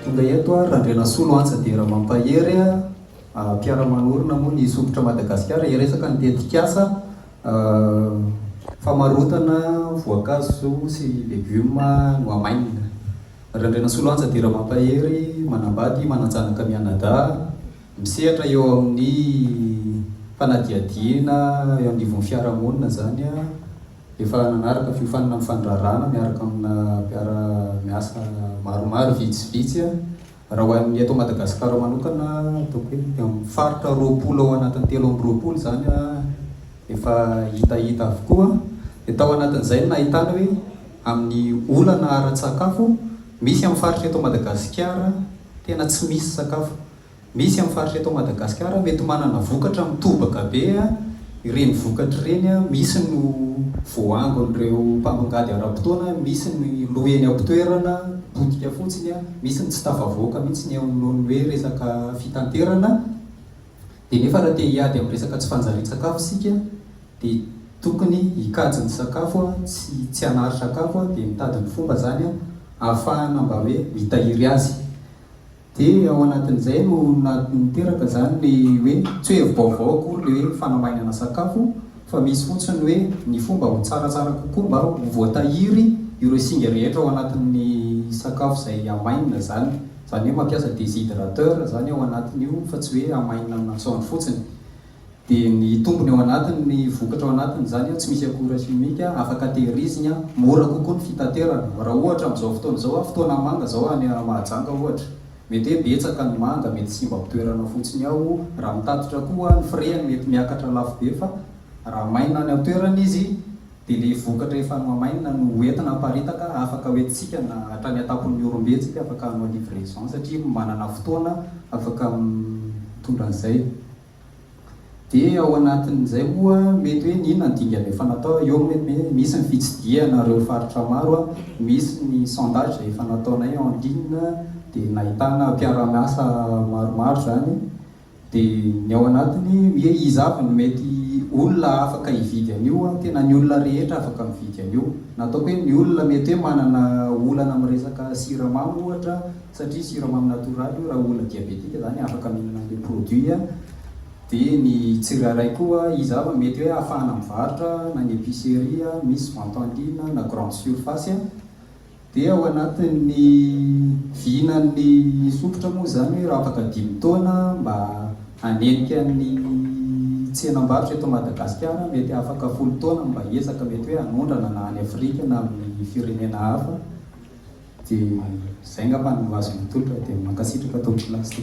Tonga eto ary Randrianasolo Antsa Dera Mampahery, mpiara-manorina moa ny Sompitra Madagasikara, hiresaka ny tetikasa famarotana voankazo sy legioma nohamainina. Randrianasolo Antsa Dera Mampahery, manambady, manan-janaka mianadahy, misehatra eo amin'ny fanadihadiana eo anivon'ny fiarahamonina izany. Efa nanaraka fiofanana mifandrarana miaraka amina mpiara miasa maromaro vitsivitsy aho. Raha ho an'ny eto Madagasikara manokana ataoko hoe eo amin'ny faritra roapolo ao anatin'ny telo amby roapolo izany efa hitahita avokoa. Dia tao anatin'izay no nahitana hoe amin'ny olana ara-tsakafo misy amin'ny faritra eto Madagasikara tena tsy misy sakafo. Misy amin'ny faritra eto Madagasikara mety manana vokatra mitobaka be, ireny vokatra ireny misy no voahangon'ireo mpamongady ara-potoana, misy ny lo eny am-pitoerana, potika fotsiny, misy ny tsy tafavoaka mihitsy ny eo noho ny hoe resaka fitanterana, dia nefa raha te hiady amin'ny resaka tsy fanjarian-tsakafo isika dia tokony hikajy ny sakafo sy tsy hanary sakafo dia mitady ny fomba izany ahafahana mba hoe mitahiry azy. Dia ao anatin'izay no niteraka izany ilay hoe, tsy hoe hevi-baovao akory ilay hoe fanamainana sakafo fa misy fotsiny hoe ny fomba ho tsaratsara kokoa mba ho voatahiry ireo singa rehetra ao anatin'ny sakafo izay hamainina izany. Izany hoe mampiasa déshydrateur izany ao anatin'io fa tsy hoe hamainina amin'ny masoandro fotsiny. Dia ny tombony ao anatiny, ny vokatra ao anatiny izany tsy misy akora simika, afaka tehirizina, mora kokoa ny fitaterana. Raha ohatra amin'izao fotoana izao, fotoana manga izao any Mahajanga ohatra, mety hoe betsaka ny manga, mety simba am-pitoerana fotsiny ao, raha mitatitra koa ny frais-ny mety miakatra lafo be fa raha maina any an-toerana izy, dia ilay vokatra efa nohamainina no ho entina haparitaka afaka hoentintsika na hatrany an-tampon'ny Ihorombe tsika afaka hanao livraison satria manana fotoana afaka mitondra an'izay dia ao anatin'izay moa mety hoe ny inona ny dingana efa natao eo moa mety hoe misy ny fitsidihana ireo faritra maro misy ny sondage izay efa nataonay en ligne dia nahitana mpiara-miasa maromaro izany Dia ny ao anatiny hoe iza avy no mety olona afaka hividy an'io an, tena ny olona rehetra afaka mividy an'io. Na ataoko hoe ny olona mety hoe manana olana amin'ny resaka siramamy ohatra satria siramamy natoraly io raha olona diabetika izany afaka mihinana an'ilay produit an, dia ny tsirairay koa iza avy no mety hoe ahafahana mivarotra na ny epicerie misy vente en ligne na grande surface an. Dia ao anatin'ny vinan'ny sompitra moa izany hoe raha afaka dimy taona mba hanenika ny tsenam-barotra eto Madagasikara, mety afaka folo taona mba hiezaka mety hoe hanondrana na any Afrika na amin'ny firenena hafa. Dia izay ngamba no azoko atolotra. Dia mankasitraka Tompon'Ilasy.